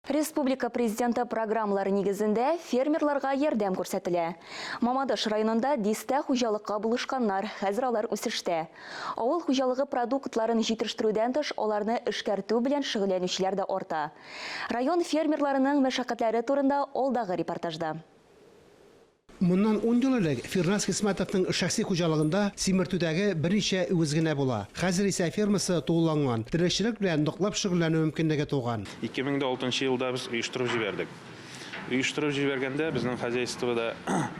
Республика Президенты программалары нигезендә фермерларга ярдәм күрсәтелә. Мамадыш районында дистә хуҗалыкка булышканнар, хәзер алар үсештә. Авыл хуҗалыгы продуктларын җитештерүдән тыш, аларны эшкәртү белән шөгыльләнүчеләр дә арта. Район фермерларының мәшәкатьләре турында алдагы репортажда. Моннан ун ел элек Фирназ Хисмәтовның шәхси хуҗалыгында симертүдәге берничә үгез генә була. Хәзер исә фермасы тулыланган, терлекчелек белән ныклап шөгыльләнү мөмкинлеге туган. Ике мең дә алтынчы елда без оештырып җибәрдек. Оештырып җибәргәндә безнең хозяйствода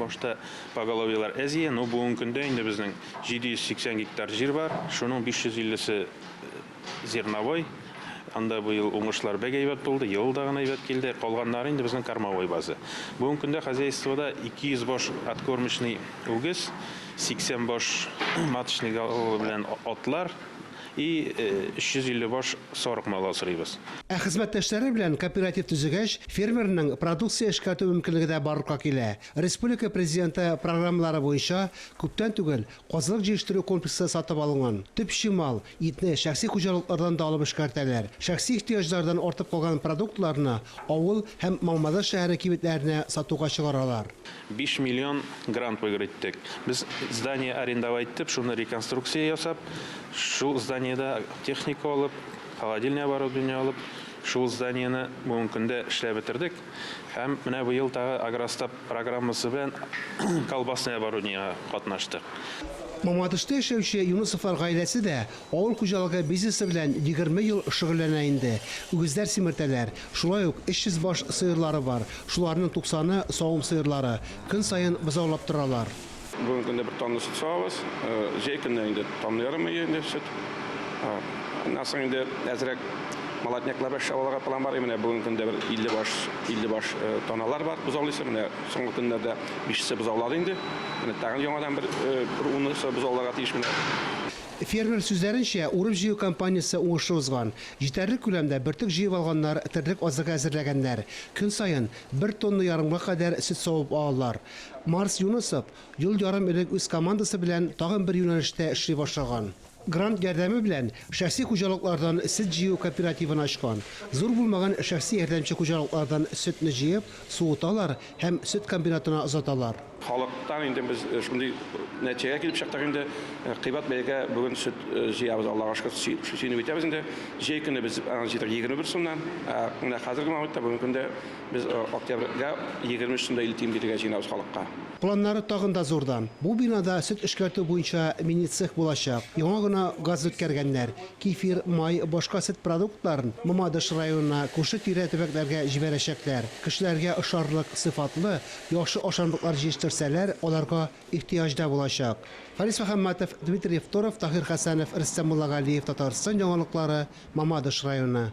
башта поголовьелар әз иде, ну бүгенге көндә инде безнең 780 гектар җир бар, шуның 550 се Зерновой, анда бу ел уңышлар бәк әйбәт булды, ел да гына әйбәт килде. Калганнары инде безнең кормовой база. Бүгенге көндә хозяйствода 200 баш откормочный үгез, 80 баш маточный галлы белән атлар и 350 баш сарык малы асрыйбыз. Ә хезмәттәшләре белән кооператив төзегәч, фермерның продукция эшкәртү мөмкинлеге дә барлыкка килә. Республика Президенты программалары буенча күптән түгел Казылык җиештерү комплексы сатып алынган. Төп чимал, итне шәхси хуҗалыклардан да алып эшкәртәләр. Шәхси ихтыяҗлардан артып калган продуктларны авыл һәм Мамадыш шәһәре кибетләренә сатуга чыгаралар. Биш миллион грант выигрыйттек. Без здание арендовайтеп, шуны реконструкция ясап, шул зданиедә техника алып, холодильный оборудование алып, шул зданиене бүгенге көндә эшләп бетердек. Һәм менә быел тагы Агростаб программасы белән колбасный оборудниегә катнаштык. Мамадышта яшәүче Юнысовлар гаиләсе дә авыл хуҗалыгы бизнесы белән егерме ел шөгыльләнә инде. Үгезләр симертәләр, шулай ук 300 баш сыерлары бар, шуларның туксаны, савым сыерлары, көн саен бозаулап торалар. Бүгенге көндә бер тонна сөт савабыз. Җәй көннәре инде тонна ярым өйе инде сөт. Аннан соң инде әзрәк молоднякларда чабаларга план бар. Менә бүгенге көндә бер 50 баш, 50 баш тоналар бар бозаулыйсы. Менә соңгы көннәрдә бишесе бозаулады инде. Менә тагын яңадан бер унысы бозауларга тиеш менә. Фермер сүзләренчә, урып-җыю кампаниясе уңышлы узган. Җитәрлек күләмдә бөртек җыеп алганнар, терлек азыгы әзерләгәннәр. Көн саен бер тонна ярымга кадәр сөт савып алалар. Марс Юнысов ел ярым элек үз командасы белән тагын бер юнәлештә эшли башлаган. Грант ярдәме белән шәхси хуҗалыклардан сөт җыю кооперативын ачкан. Зур булмаган шәхси ярдәмче хуҗалыклардан сөтне җыеп, суыталар һәм сөт комбинатына озаталар. Халыктан инде без шундый нәтиҗәгә килеп чыктык инде, кыйбат бәягә бүген сөт җыябыз, Аллага шөкер, сөенеп итәбез инде. Җәй көне без аны җыйдык егерме бер сумнан, ә менә хәзерге моментта, бүгенге көндә Без октябрьгә егерме өч сум да илле тиен бирергә җыенабыз халыкка. Планнары тагын да зурдан. Бу бинада сөт эшкәртү буенча мини-цех булачак. Яңа гына газ үткәргәннәр. Кефир, май, башка сөт продуктларын Мамадыш районына, күрше-тирә төбәкләргә җибәрәчәкләр. Кешеләргә ошарлык, сыйфатлы, яхшы ашамлыклар җиештерсәләр, аларга ихтыяҗ да булачак. Фарис Мөхәммәтов, Дмитрий Евторов, Таһир Хәсәнов, Рөстәм Муллагалиев, Татарстан яңалыклары, Мамадыш районы.